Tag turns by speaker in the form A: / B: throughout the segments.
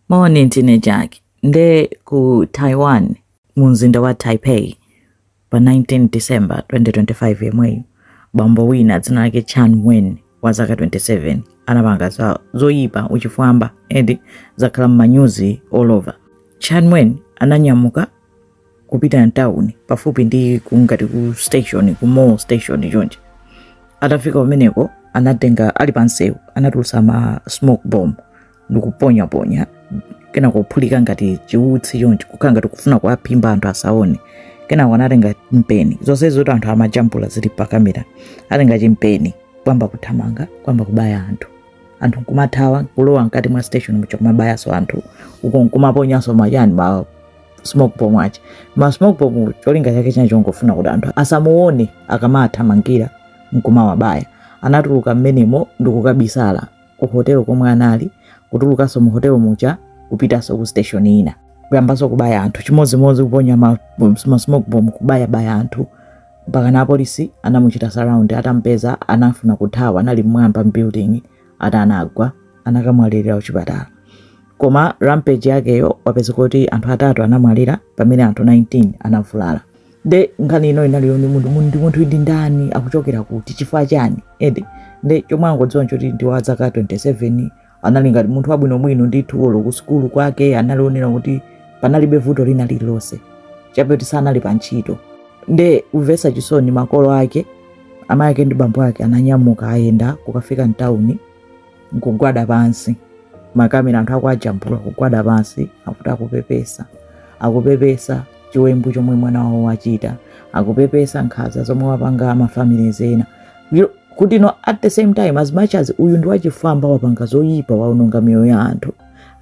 A: Moni, ndine Jaki. Nde ku Taiwan mu mzinda wa Taipei pa 19 December 2025 yemweyo bambo wina dzina lake Chan Wen wa zaka 27 anapanga zoyipa uchifwamba and zakhala m'manyuzi all over. Chan Wen ananyamuka kupita mtawuni pafupi ndi kungati ku station ku mall station chonchi atafika kumeneko anatenga ali pansewu anatulutsa ma smoke bomb ndikuponyaponya kenako kuphulika ngati chiutsi chonchi kukhala ngati kufuna kuwaphimba anthu asaone kenako anatenga mpeni zonse zoti anthu amajambula zili pa kamera atenga chimpeni kuyamba kuthamanga kuyamba kubaya anthu anthu nkumathawa kulowa mkati mwa station muja kumabayanso anthu uko nkumaponyanso maujeni ma smoke bomb aja ma smoke bomb cholinga chake china chongofuna kuti anthu asamuone akamathamangira nkumawabaya anatuluka mmenemo ndikukabisala ku hotelo komwe anali kutulukanso mu hotelo muja kupitanso ku station ina kuyambanso kubaya anthu chimodzimodzi kuponya ma, ma smoke bomb kubayabaya anthu mpakana apolisi anamuchita surround atampeza anafuna kuthawa anali mmwamba mwa building atagwa anakamwalirira kuchipatala koma rampage yakeyo wapezeka kuti anthu atatu anamwalira pamene anthu 19 anavulala nde nkhani ino inali yoti munthu munthu ndi munthu ndi ndani akuchokera kuti chifukwa chani and nde chomwe angodziwa nchoti ndi wa zaka 27 anali ngati munthu wabwinobwino ndithu olo ku sukulu kwake amaoneka kuti panalibe vuto lina lililonse chabe kuti sanali pa ntchito nde kumvetsa chisoni makolo ake amake ndi bambo ake ananyamuka ayenda kukafika mtawuni nkugwada pansi makamera anthu akuajambula kugwada pansi akuti akupepesa akupepesa chiwembu chomwe mwana wawo wachita akupepesa nkhaza zomwe wapanga mafamilies ena ukuti no at the same time as much as uyu ndi wachifwamba wapanga zoyipa waononga miyoyo ya anthu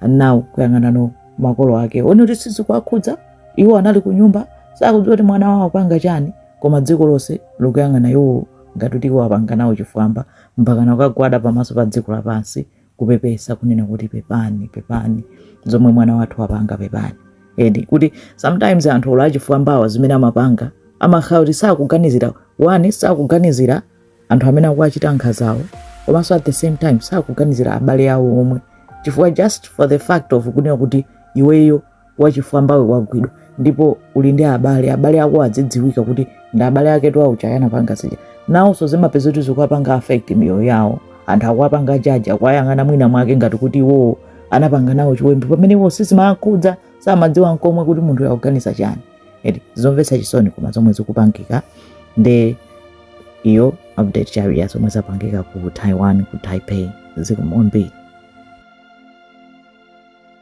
A: now kuyang'ananso makolo ake uone kuti sizikuwakhudza iwo anali ku nyumba sakudziwa kuti mwana wawo apanga chani koma dziko lonse likuyang'ana iwo ngati kuti iwo apanga nawo chifwamba mpakana kukagwada pamaso pa dziko lapansi kupepesa kunena kuti pepani pepani zomwe mwana wathu wapanga pepani ndi kuti sometimes anthu olo achifwambawa zimene amapanga amakhala kuti sakuganizira one sakuganizira anthu amene akuwachita nkhazawo komanso at the same time sakuganizira abale awo omwe chifukwa just for the fact of kunena kuti iweyo wachifwambawe wagwidwa ndipo uli ndi abale abale ako adzidziwika kuti ndi abale ake a ujeni anapanga zija nawonso zimapeza kuti zikuwapanga affect miyoyo yawo anthu akuwapanga jaji akuwayang'ana mwina mwake ngati kuti iwowo anapanga nawo chiwembu pamene iwo sizimakhudza samadziwa nkomwe kuti munthu akuganiza chani eti zomvetsa chisoni koma zomwe zikupangika nde iyo update chabe ya zomwe zapangika ku taiwan ku taipei zikomo kwambiri